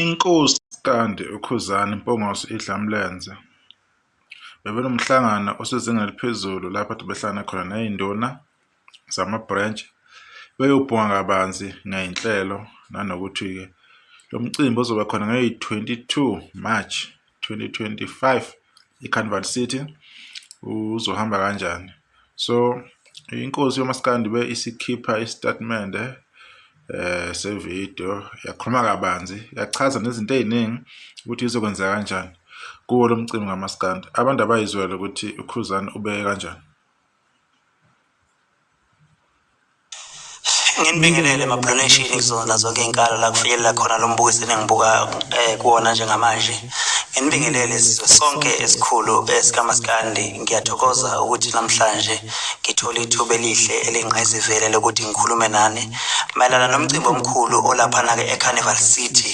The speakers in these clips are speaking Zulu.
Inkosi Standi uKhuzani Mpungose iDlamlenze bebenomhlangano osezingeni eliphezulu lapho kade behlangana khona ney'nduna zama-branch beyobhunga kabanzi ngey'nhlelo nanokuthi-ke lo mcimbi ozoba khona ngeyi-twenty-two March 2025 iCarnival City uzohamba kanjani so inkosi yomaskandi be isikhipha isitatimende eh sevideo yakhuluma kabanzi yachaza nezinto eziningi ukuthi izokwenza kanjani kuwo lomcimbi ngamaskandi abantu abayizwele ukuthi ukhuzani ubeke kanjani nginibingelele mabronation kuzona zonke iy'nkalo la kufinyelela khona lo mbuko esenengibuka um eh, kuwona njengamanje nginibingelele sizwe sonke esikhulu esikamaskandi eh, ngiyathokoza ukuthi namhlanje ngithole ithuba elihle elingqayizivele lokuthi ngikhulume nani mayelana nomcimbi omkhulu olaphana-ke ecarnival city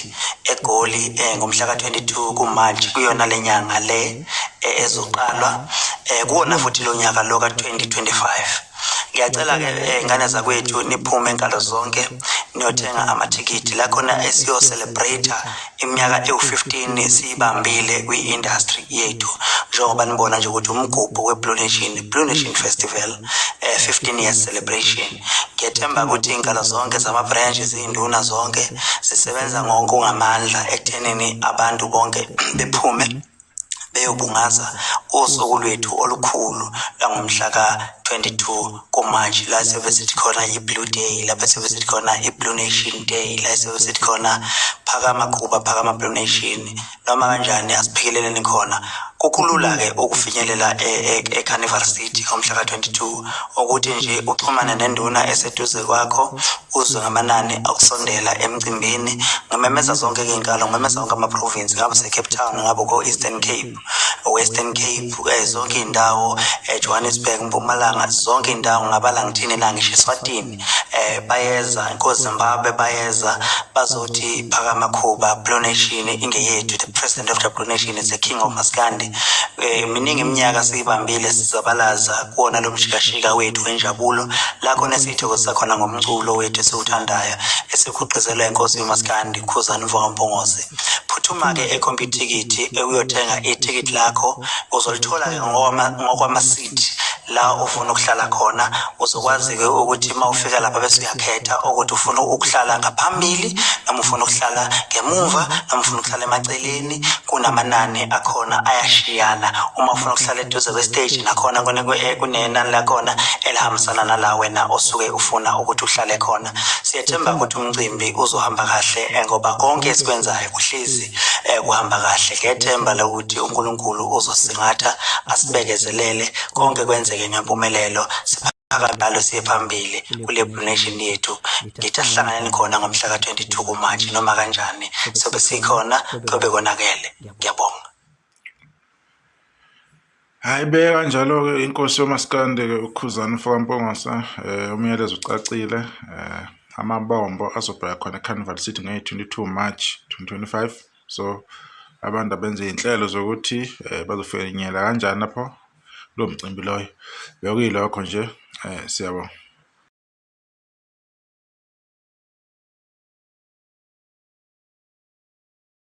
egoli um ngomhla ka-22 kumarch kuyona le nyanga le eh, ezoqalwa eh, kuwona futhi lo nyaka lo ka-2025 ngiyacela ke eh, ngane zakwethu niphume enkalo zonke niyothenga amathikithi la khona esiyocelebrate iminyaka ewu-15 siyibambile kwi-industry yethu njengoba nibona nje ukuthi umgubho we-blue nation blue nation festival um eh, 15 years celebration ngiyethemba ukuthi iy'nkalo zonke zama-branch ziyinduna zonke zisebenza ngonke ungamandla ekuthenini abantu bonke bephume beyobungaza usuku lwethu olukhulu langomhla ka-22 kuMarch la siyobe sithi khona i-Blue Day lapho siyobe sithi khona i-Blue Nation Day la siyobe sithi khona phakama Kuba phakama Blue Nation noma kanjani asiphikeleleni khona kukulula-ke ukufinyelela e-, e-, e-Carnival City ngomhla ka-22 ukuthi nje uxhumane nenduna eseduze kwakho uzwe ngamanani okusondela emcimbini ngimemeza zonke iy'nkalo ngimemeza wonke ama-province ngabe secape town ngabe ko-eastern cape western cape um zonke iy'ndawo um eh, johannesburg mpumalanga zonke iy'ndawo ngabala ngithini la ngisho eswatini um eh, bayeza kozimbabwe bayeza bazothi phakamakhuba blue nation ingeyethu the president of the blue nation is a king of maskandi um miningi iminyaka siyibambile sizabalaza kuwona lo mshikashika wethu wenjabulo la khona esiyithokozisa khona ngomculo wethu esiwuthandayo esikhuqizelwa inkosi yomaskandi khuzani mvokampongose phuthuma-ke ekhompyuthikithi ekuyothenga ithikithi lakho uzolithola-ke ngokwamasiko la ufuna ukuhlala khona uzokwazi-ke ukuthi uma ufika lapha bese uyakhetha ukuthi ufuna ukuhlala ngaphambili noma ufuna ukuhlala ngemumva noma ufuna ukuhlala emaceleni kunamanani akhona ayashiyana uma ufuna ukuhlala eduze kwesiteji nakhona eh, kunenani lakhona elihambisana nala wena osuke ufuna ukuthi uhlale khona siyethemba ukuthi umcimbi uzohamba kahle eh, ngoba konke esikwenzayo kuhlezi eh, kuhamba kahle ngethemba ukuthi uNkulunkulu uzosingatha asibekezelele konke kwenzeke ngempumelelo akanalo siye phambili kule Blue Nation yethu ngithi ahlanganeni khona ngomhla ka-22 kuMarch noma kanjani sobe sikhona kobe konakele ngiyabonga Hayi beka kanjalo-ke inkosi yomasikande-ke ukhuzana ufokampongose um umyalezo ucacile um amabombo azobheka khona ecarnival city ngeye-22 march 2025 so abantu abenze iy'nhlelo zokuthi um bazofinyela kanjani lapho lo mcimbi loyo bekuyilokho nje um siyabonga